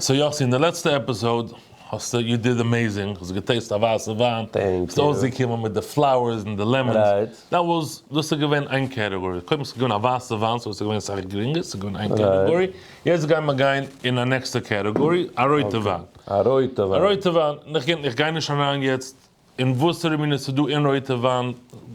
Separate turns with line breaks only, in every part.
סאו יאסי, אין די לעצטע עפיסאוד האסטו, יו דיד עמעיזינג, האסט געטעיסט א ווייסע וויין, ביסט אויסגעקומען
מיט די
פלאוערס און די לעמענס, דעט וואס,
דאס איז
געווען איין קעטעגארי, קודם איז געווען א ווייסע וויין סאו עס איז געווען סאך גרינגער, עס איז געווען איין קעטעגארי, יעצט גייען מיר גיין אין א נעקסטע קעטעגארי, א רויטע וויין. א
רויטע וויין. א רויטע
וויין, און איך גיי נישט אריין יעצט און וואסערע מינע ס'איז דא אין רויטע וויין,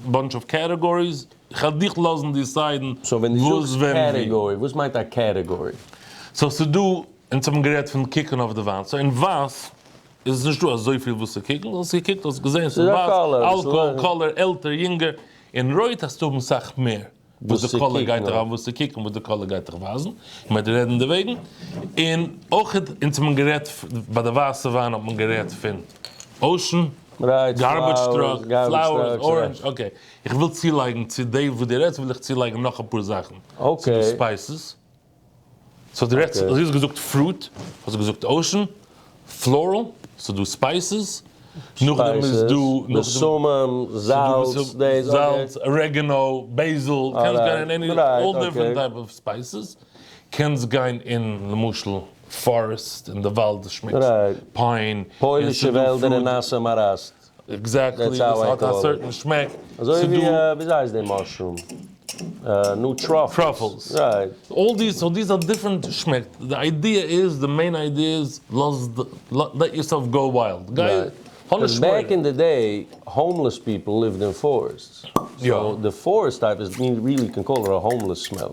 באנטש אוו קעטעגאריס, כ'על דיך לאזן דיסיידן וואס ווען ווי. סאו ווען
דו זאגסט קעטעגארי, וואס מיינט א קעטעגארי? סאו ס'איז דא,
אונז האבן גערעדט פון קוקן אויף די וויין, סאו אין ווייס איז עס נישט דא אזויפיל וואס צו קוקן, האסט געקוקט האסט געזען ס'איז ווייס, אלקאהאל, קאלער, עלטער, יונגער, אין רויט האסטו האבן סאך מער. וואס די קולא גייט דיך וואס צו קוקן וואס די קולא גייט דיך ווייזן, און מען וועט רעדן דערוועגן, און אויך אונז האט מען גערעדט ביי די ווייסע וויין האט מען גערעדט פון אושען, גארבעדזש
טראק,
פלאוערס, ארענדזש, אקעי,
איך
וויל צולייגן צו די וואס די רעדסט וויל איך צולייגן נאך אפאר זאכן, ס'דא ספייסעס. סאו דו רעדסט, דו האסט געזאגט פרוט, האסט געזאגט אוישן, פלארעל, סאיז דא ספייסעס, נאכדעם איז דא, בשמים,
זאלץ, דעיס, זאלץ,
ארעגענאו, בעיזיל, קענסט גיין אין עני, אלל דיפרענט טייפ אוו ספייסעס, קענסט גיין אין למשל פארעסט, אין די וואלד, שמעקסט פיין, פוילישע וועלדער
און נאסע מאראסט. עקזעקטלי, עס
האט א
סערטען שמעק.
אזוי ווי וויאזוי
הייסט די מאשרום? נו טראפלס. טראפלס. רייט. אלל דיס, סאו דיס האט
דיפרענט שמעק. די איידיע איז, די מעין איידיע איז, לאז, לעט יורסעלף גאו וויילד. גיי, האב נישט מורא. בעק אין
די דעי, האומלעס פיפל ליווט אין פארעסטס. סאו די פארעסט טייפ איז מין רילי קען קאלל איט א האומלעס סמעל.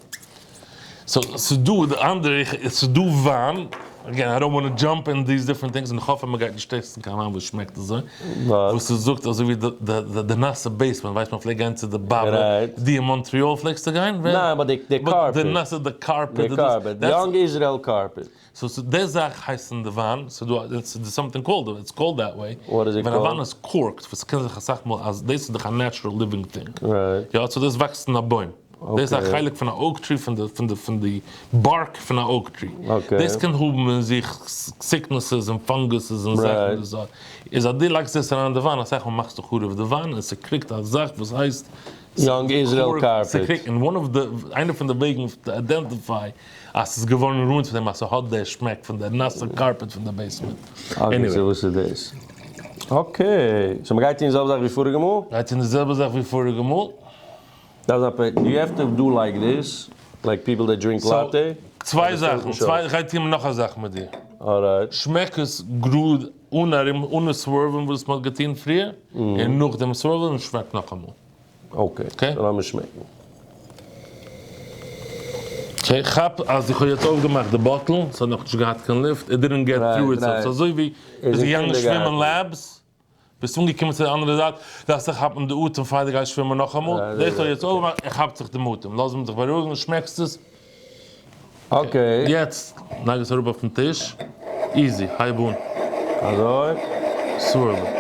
סאו
ס'איז דא די אנדערע איך ס'איז דא וויין, אגעין איי דאנט וואנט טו דזשאמפ אין דיס דיפרענט טינגס און איך האף אז מ'גייט נישט טעסטן קיין וויין וואס שמעקט אזוי, וואס איז זאגט אזוי ווי די די נאסע בעיסמענט ווייסט מען פלעגט גיין צו די באבע, די אין מאנטריאל פלעגסטו גיין? ניין באט די קארפעט,
די נאסע די קארפעט,
די קארפעט,
די יאנג איזרעיל קארפעט. סאו ס'איז די זאך
הייסט אין די וויין, ס'איז דא א, ס'איז סאמטינג קאלד, איטס קאלד דעט וועי, וואט איז איט קאלד? ווען א וויין איז
קארקט, וואס
ס'קען זיך אסאך מאל אז דאס איז דאך א נעטשרעל ליווינג טינג, רייט. יא, סאו דאס
וואקסט אין א
בוים, דאס איז א חלק פון א אוק טרי, פון די פון די פון די בארק פון א אוק טרי, אקעי. דאס קען האבן
אין זיך
סיקנעסעס און פאנגוסעס און זאכן רייט. פון די סארט, איז אז דו לייגסט דאס אריין אין די וויין, אסאך מאל מאכסטו חרוב די וויין, און ס'קריגט א זאך וואס הייסט, Young Israel
Carpet. ס'קריגט, און וואן אוו די, איינע
פון די וועגן טו איידענטיפיי אז ס'איז געווארן רוינט פון דעם אז ס'האט די שמעק פון די נאסע קארפעט פון די בעיסמענט. אקעי סאו וואס
איז דאס? אקעי סאו מ'גייט טון די זעלבע זאך ווי פאריגע מאל? גייט טון די זעלבע זאך ווי
פאריגע מאל. דארף זיין
פעקט, יו העוו טו דו לייק דיס, לייק פיפל דעט דרינק לאטע. צוויי זאכן,
צוויי, כ'גיי טון נאך א זאך מיט דיר. אלרייט. שמעק
עס
גראד אן ארום אנע סווערווילן וואס מ'האט געטון פריער, און נאכדעם סווערווילן און שמעק נאכאמאל. אקעי, קען איך
לאמיר שמעקן.
איך כאפ אז איך האב יעצט אויפגעמאכט די באטל, עס האט נאכנישט געהאט קיין לופט, איט דידענט געט טרו איט סעלף, ס'איז אזוי ווי ביסט געגאנגען שווימען לעבס, ביסט אנגעקומען צו די אנדערע זייט, דארפסטו כאפן די אטעם פאר די גייסט שווימען נאכאמאל, דאס האט יעצט אויפגעמאכט, איך כאפ זיך דעם אטעם, לאז מיך זיך בארואיגן, שמעקסט עס?
אקעי. יעצט
לייג עס אראפ אויפן טיש. איזי. הייב אן. אזוי.
סווירל
איט.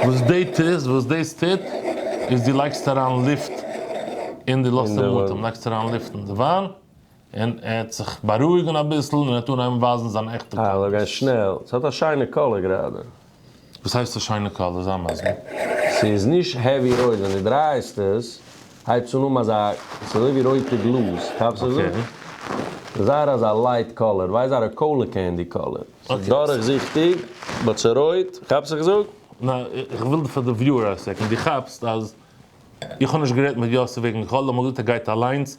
וואס די טוסט, וואס דאס טוט, איז דו לייגסט אריין לופט אין די לאזט אים אטעם, לייגסט אריין לופט אין די וויין, און ער האט זיך בארואיגן אביסל און ער האט אנגעהויבן ווייזן זיין עכטע קאלערס. העלא גיי שנעל, ס'האט
א שיינע קאלער גראדע. וואס הייסט א
שיינע קאלער? זיי מסביר. ס'איז נישט
העווי רויט, ווען דו דרייסט עס הייבסט אן אן אזא, ס'איז אזוי ווי רויטע גלאז, כאפסט וואס איך זאג? זייער אזא לייט קאלער, ווייז זייער א קאלער קענדי קאלער, ס'איז דורכזיכטיג באט ס'איז רויט, כאפסט וואס איך זאג? נא, איך וויל
פאר די וויוער אויסצעקן, דו כאפסט אז איך האב נישט גערעדט מיט יוסי וועגן קאלער, איך האב געזאגט ער גייט אליינס,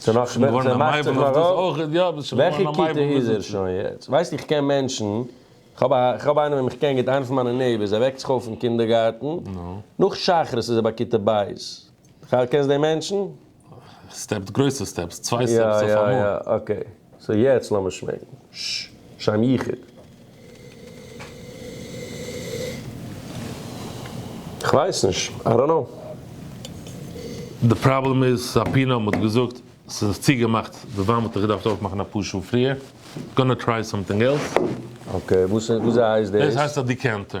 ס'נאך וועלט ס'מאכט זיך
נאר אויף וועלכע כיתה איז ער
שוין
יעצט?
ווייסט איך קען מענטשן, כ'האב א כ'האב איינעם וועם כ'קען גוט איינע פון מיינע נעיבערס ער וועקט זיך אויף אין קינדערגארטן נאך
שחרית איז ער
ביי כיתה ב' קענסט דעם מענטשן? סטעפס
גרויסע סטעפס צוויי סטעפס אויפאמאל.
סאו יעצט לאמיר שמעקן שם יחיד. כ'ווייס נישט, איי דאנט נאו.
די פראבלעם איז סאפינא מ'האט געזאגט ס'איז צוגעמאכט די וויין וואלט איך געדארפט אויפמאכן אפאר שעה פריער. גאננע טריי סאמטינג עלס. אקעי וואס
איז וואס זייעס דאס? דאס הייסט א דיקענטער.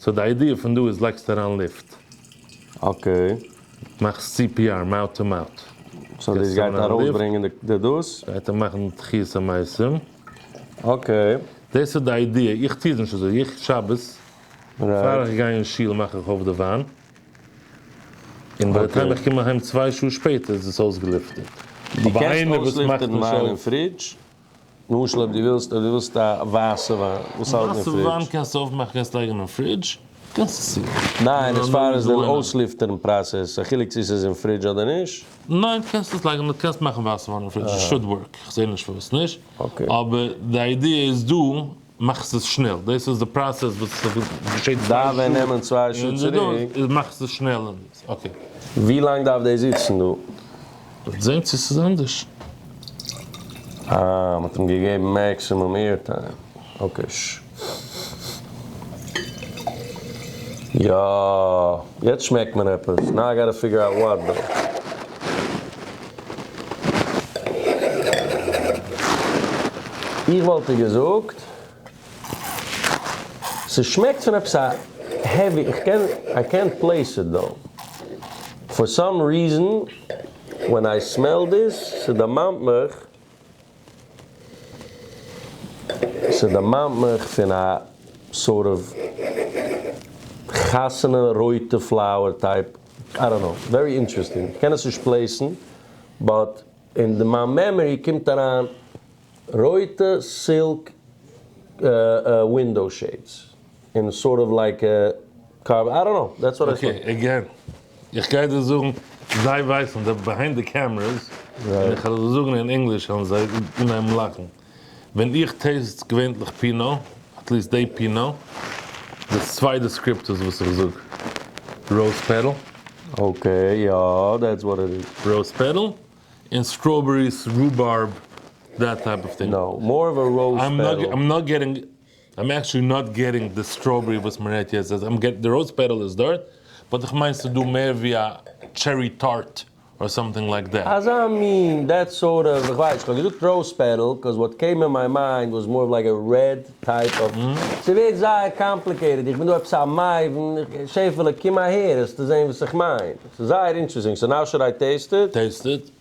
סאו די איידיע פון דא איז לייגסט אריין לופט. אקעי.
מאכסט
סי פי אר, מאוט טו מאוט. סאו דאס גייט
ארויסברענגען די דאס? גייט ער מאכן תחיית
המתים. אקעי.
דאס איז די
איידיע, איך טוה עס נישט אזוי, איך שבת פאר איך גיי אין שול מאך איך אויף די וויין, און ביי די טיים איך קום אהיים צוויי שעה שפעטער איז עס אויסגעלופטערט. דו
קענסט אויסלופטערן וויין אין פרידזש? למשל אויב דו ווילסט אויב דו ווילסט א ווייסע וויין וואס האלט אין פרידזש. ווייסע וויין קענסטו אויפמאכן קענסט
לייגן אין פרידזש קענסט עס יא. ניין עס פאר עס
דער אויסליפטערן פראסעס א חילוק צו עס איז אין פרידזש אדער נישט? ניין קענסט עס
לייגן קענסט מאכן ווייסע וויין אין פרידזש עס שוד ווארק איך זעה נישט פארוואס נישט אבער
די איידיע
איז דא מאכסט עס שנעל, דאס איז די פראסעס וואס געשעט צוויי שעה, און די דאס מאכסט עס שנעל
און דאס, אקעי.
ווי לאנג
דארף דאס זיצן דא? וועט זען צו
ס'איז אנדערש. אה,
מ'האט אים געגעבן מעקסימום עיר טיים. אקעי. יא, יעצט שמעקט מיר עפעס. נאו איי גאטע פיגור אוט וואט דאו. איך וואלט דיר געזאגט ס'שמעקט פון עפעס א העווי, איך קען איי קענט פלעיס איט דאו, פאר סאם ריזען ווען איי סמעל דיס ס'דערמאנט מיך ס'דערמאנט מיך פון א סארט אוו חתונה רויטע פלאוער טייפ איי דאנט קנאו, ווערי אינטערעסטינג, איך קען עס נישט פלעיסן, באט אין די מיין מעמארי קומט אריין רויטע סילק ווינדאו שעידס, און סארט אוו לייק א קארבאן, איי דאנט קנאו, דעטס וואט איי סא. אקעי, עגעין,
איך גיי דיר זאגן, זיי ווייסן, די ביהיינד די קעמרעס, און איך וועל זאגן אין ענגליש וועלן זיי אנהייבן לאכן. ווען איך טעסט געווענטליך פינא, עטליסט דעי פינא, די צוויי דעסקריפטארס וואס איך זאג, ראוז פעטעל. אקעי
יא דעטס וואט איט איז. ראוז פעטעל,
און סטראבעריס, רובארב, דעט טייפ אוו טינג. נאו, מאר אוו א ראוז
פעטעל. איים נאט געטינג. איים עקטשעלי
נאט געטינג די סטראבערי וואס מען רעדט יעצט, איים געטינג די ראוז פעטעל איז דארט, באט איך מיין ס'איז דא מער ווי א טשערי טארט אר סאמטינג לייק דעט. אזא מין,
דעט סארט אוו, איך ווייס, איך האב געזאגט ראוז פעטעל קאוז וואט קעים אין מיי מיינד וואס מאר אוו לייק א רעד טייפ אוו, ס'ווערט זייער קאמפליקעיטעד, איך בין דא עפעס א מבין, שעפעלע קום אהער העסטו זעהן וואס איך מיין, ס'איז זייער אינטרעסטינג, סאו נאו שוד איי טעיסט איט? טעיסט איט.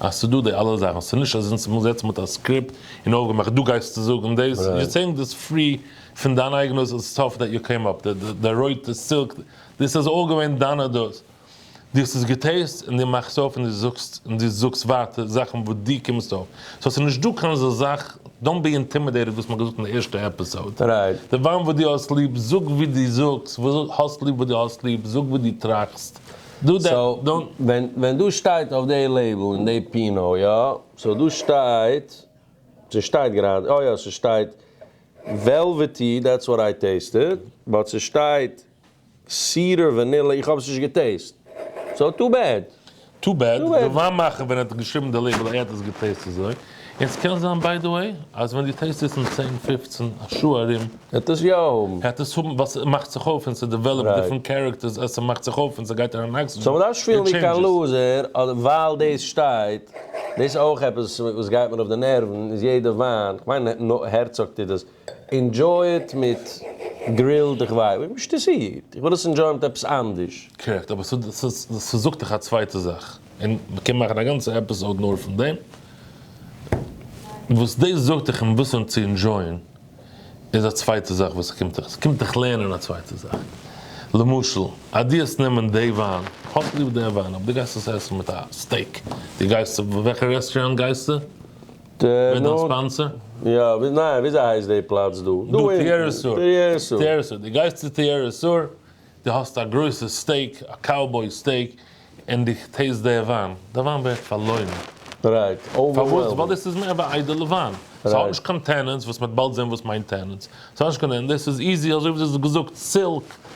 אז ס'דא די אלע זאכן, ס'איז נישט אז אונז האבן געזעצן מיט א סקריפט און אויפגעמאכט דא גייסטו זאגן דאס, יו סעיאינג דאס פרי פון דיין אייגענע סטאף דעט יו קעים אפ, די רויטע סילק, דאס איז אלל געווען דיינע דעות, דו האסט עס געטעסט און דו מאכסט אויף און דו זאגסט און דו זאגסט ווייטער זאכן וואס דו קומסט אויף, סאו ס'איז נישט דא קיין אזא זאך, דאנט בי אינטימידעיטעד וואס מ'האט געזאגט אין די ערשטע עפיסאוד, די וואן וואס
דו האסט
ליב זאג ווי דו זאגסט, האסט ליב וואס דו האסט ליב, זאג וואס דו טראכסט, דא דער דאן. סאו ווען
דא
שטייט
אויף די לעיבל אין די פינה יא סאו דא שטייט ס'שטייט גראדע אה יא ס'שטייט וועלוועטי דעטס וואט איי טעיסטעד באט ס'שטייט סידער ווענילא איך האב עס נישט געטעיסט סאו טו בעד. טו בעד, די
וויין מאכער ווען ער האט געשריבן די לעיבל ער האט עס געטעיסט אזוי. און סקען זיין ביי די וועי אז ווען די טעסט איז אין צען פופצן א שעה ארום. העט עס יא
האבן. העט עס האבן ווייל
סמאכט זיך אויף און סדעוועלאפט דיפרענט קערעקטערס אז סמאכט זיך אויף און סגייט אריין אקסידזשען. סאו מדארף נישט פילן ווי קיין
לוזער אדער ווייל דאס שטייט. דאס איז אויך עפעס וואס גייט מיר אויף די נערוון איז יעדע וויין כמיין נאר הערצאג טוט דאס. ענדזשוי איט מיט גרילד איך ווייס ווי מ'שטוסירט איך וויל עס ענדזשויען מיט עפעס אנדערש. קרעקט, אבער
ס'זאגט דיך א צווייטע זאך, און מ'קען מאכן א גאנצע עפיסאוד נאר פון דעם, וואס דאס זאגט דיך און וואסען צו ענדזשויען איז א צווייטע זאך וואס ס'קומט דיך, ס'קומט דיך לערנען א צווייטע זאך, למשל אז דו האסט נעמען דעי וויין, האסט ליב דעי וויין אבער דו גייסט עס עסן מיט א סטעיק, דו גייסט, וועלכע רעסטוראנט גייסטו? ווער איז דיין ספאנסער? יא, ניין,
וויאזוי הייסט די פלאץ דא? דא טעיערעסור. טעיערעסור.
טעיערעסור. דו
גייסט צו
טעיערעסור, דו האסט א גרויסע סטעיק, א קאובוי סטעיק, און דו טעיסט דער וויין. דער וויין ווערט פארלוירן. רייט.
פארוואס? ווייל דאס איז מער ווי איידעלע
וויין. ס'האט נישט קיין טענענס, וואס מ'וועט באלד זען וואס מיינט טענענס. ס'האט נישט קיין טענענס. דאס איז איזי, אזוי ווי דו האסט געזאגט, סילק,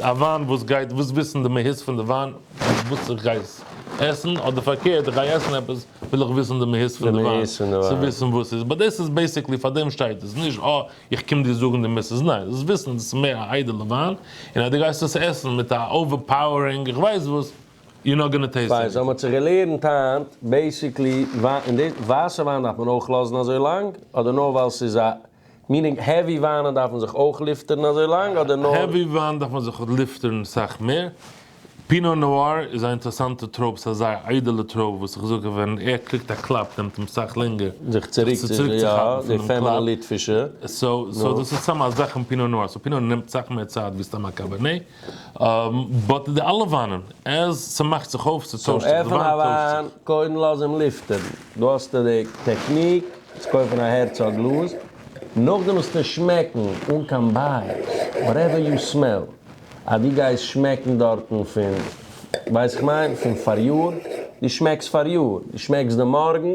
א וויין וואס גייט וואס וויסן די מהות פון די וויין וואס איך גיי עסן אדער פארקערט איך גיי עסן עפעס וויל איך וויסן די מהות פון די וויין צו וויסן וואס איז באט דאס איז בעסיקלי פאר דעם שטייט עס נישט אה איך קום דיר זאגן די מהות ניין דאס וויסן דאס איז מער א איידעלע וויין און אז די גייסט עס עסן מיט א אווער פאוערינג איך ווייס וואס יו נאט גאנא טעיסט עניטינג. פיין, סאו מען האט זיך געלערנט
היינט בעסיקלי ווייסע וויין דארף מען אויך לאזן אזוי לאנג אדער נאר ווייל ס'איז א. מינינג העווי וויינען דארפן זיך אויך ליפטערן אזוי לאנג אדער נאר. העווי וויין דארף מען זיך
ליפטערן סאך מער. פינא נאר איז א אינטערעסאנטע טרויב, ס'איז א זייער איידעלע טרויב וואס איך זאג ווען ער קריגט א קלאפ נעמט אים סאך לענגער זיך צוריק צו
כאפן פון דעם קלאפ. סאו דאס
איז סתם א זאך אין פינא נאר, סאו פינא נאר נעמט סאך מער צייט ווי סתם א קאבערנעי. באט די אלע וויינען עז ס'מאכט זיך אויף ס'טוישט זיך די וויין טוישט זיך. צום עפענען א וויין
קודם לאז אים לופטערן, דא האסטו די טעקניק צו קויפן א הערצאג גלאז, נאכדעם וועסטו עס שמעקן אן קיין בייעס, וואטעווער יו סמעל, אז דו גייסט שמעקן דארטן פון ווייס איך מיין פון פאריאר, דו שמעקסט פאריאר, דו שמעקסט די מארגן,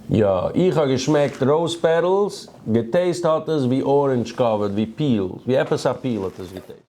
יא איך האב געשמעקט ראוז פעטעלס, געטעיסט האט עס ווי ארענדזש קאווערד, ווי פיל, ווי עפעס א פיל האט עס געטעיסט.